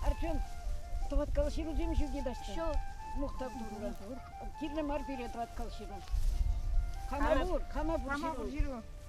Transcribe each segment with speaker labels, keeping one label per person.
Speaker 1: Артем, тӑваткал ҫыру темӗҫ ӳке дача. Ҫу. Мухтав
Speaker 2: турра.
Speaker 1: Кирлӗ мар пире тӑваткал ҫыру. Кама пур, кама пур ҫыру.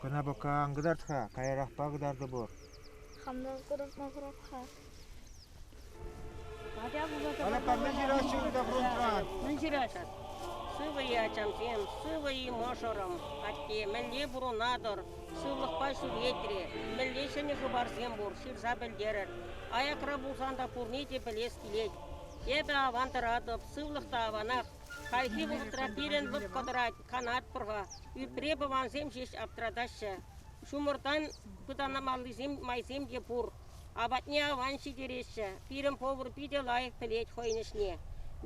Speaker 3: Кӑна пӑккан кӑтарт-ха, каярахпа кӑтартӑпӑр. Хамна
Speaker 2: курӑпма хӑрап-ха.
Speaker 3: Ана камне ҫыраҫҫӗ-ха фронтран? Мӗн ҫыраҫас?
Speaker 4: Сывӑ-и, ачамсем? Сывӑ-и, мӑшӑрӑм? Атте, мӗнле пурӑнатӑр? Сывлӑхпа ҫӳретре. Мӗнле ҫӗнӗ хыпарсем пур, ҫырса пӗлтерӗр. Аякра пулсан та пурне те пӗлес килет. Эпӗ аван тӑратӑп, сывлӑх та аванах. Хальхи вӑхӑтра пирӗн лӑпкӑ тӑрать. канатпӑр-ха. Ӳпре пӑвансем ҫеҫ аптӑратаҫҫӗ. Ҫумӑртан пытанмаллисем майсем те пур. Апатне аван ҫитереҫҫӗ. Пирӗн повар питӗ лайӑх пӗлет хӑйӗн ӗҫне.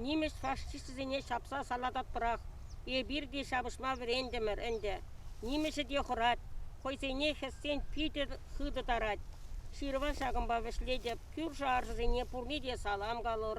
Speaker 4: Нимӗҫ фашисчӗсене ҫапса салататпӑрах. Эпир те ҫапӑҫма вӗрентӗмӗр ӗнтӗ. Нимӗҫӗ те хӑрать. Хӑйсене хӗссен питӗ хытӑ тарать. Ҫырӑва ҫакӑнпа вӗҫлетӗп. Кӳршӗ-аршӑсене пурне те салам калӑр.